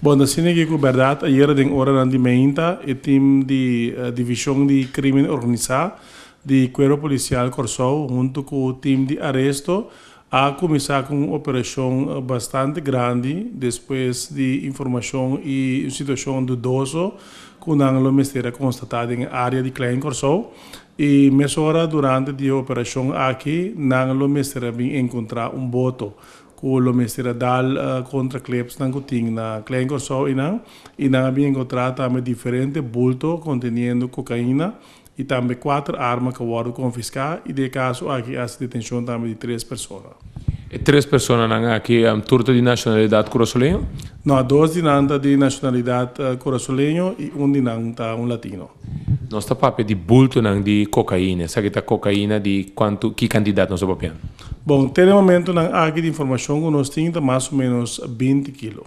Bon, ta asina ke ku bèrdat, ayera den oranan di meinta e tim di Divishon di Krimen Organisá di Kuerpo Polisial Kòrsou huntu ku tim di aresto a kuminsá ku un operashon bastante grandi despues di informashon i un situashon dudoso ku nan lo mester a konstatá den e área di Klein Kòrsou i mesora durante di e operashon aki nan lo mester a bin enkontrá un boto ku lo mester a dal kontra klebsnan ku tin na Klein Kòrsou i nan i nan a bin enkontrá tambe diferente bulto konteniendo kokaina i tambe kuater arma ku a wòrdu konfiská i di e kaso aki a hasi detenshon tambe di tres persona. E tres personanan aki tur ta di nashonalidat kurasoleño? No, dos di nan ta di nashonalidat kurasoleño i un di nan ta un latino. Nos ta papia di bultonan di kokaina. Esaki ta kokaina di kuantu, ki kantidat nos ta papiando? Bon, te den momentunan aki di informashon ku nos tin ta mas o ménos binti kilo.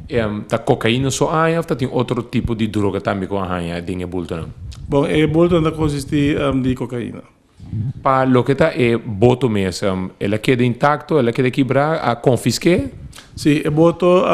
Ehm, ta kokaina so a haña òf ta tin otro tipo di droga tambe ku a haña den e bultonan? Bon, e bultonan ta konsistí di kokaina. Pa loke ta e boto mesem? El a keda intakto? El a keda kibrá? A konfisk'é? Sí, e boto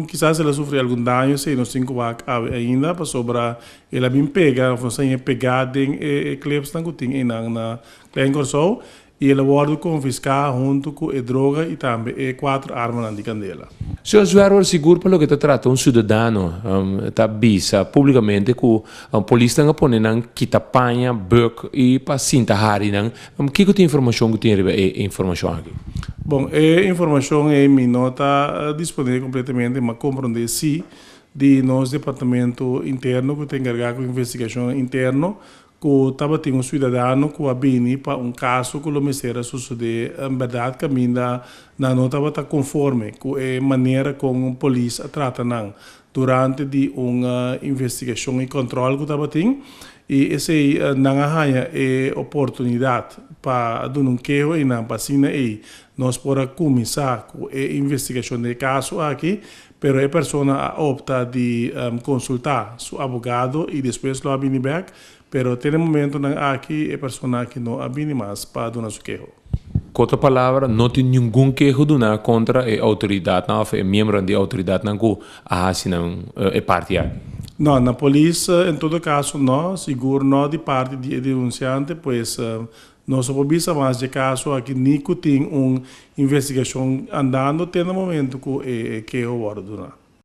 kisas el a sufri algun daño si nos tin ku wak awe ainda, pasobra el a bin pega òf nos a inia pegá den e klipsnan ku tin einan na Klein Kòrsou i el a wòrdu konfiská huntu ku e droga i tambe e kuater armanan di kandela. Señor Zwerver, sigur pa loke ta trata un siudadano ta bisa públikamente ku Polisnan a pone nan kita paña, buk i pa sinta hari nan. Kiko tin informashon ku tin riba e informashon aki? Bon, e informashon ei mi no ta disponibel kompletamente, ma komprondé si di nos departamentu interno ku ta enkargá ku investigashon interno ku tabatin un suidadano ku a bini pa un kaso ku lo mester a sosodé en bèrdat kaminda nan no tabata konforme ku e manera kon polis a trata nan. Durante di un investigashon i kòntròl ku tabatin, i esei nan a haña e oportunidat pa a duna un keho einan pa asina ei nos por a kuminsá ku e investigashon di e kaso aki, pero e persona a opta di konsultá su abogado i despues lo a bini bèk Pero te den momentonan aki e persona aki no a bini mas pa duna su keho. Ku otra palabra, no tin ningun keho duna kontra e outoridatnan òf e miembronan di outoridatnan ku a hasi nan e parti aki? No, na polis en todo kaso no, sigur no di parti di e denunsiante, pues no so por bisa mas dje kaso aki ni ku tin un investigashon andando te na momentu ku e keho wòrdu duna.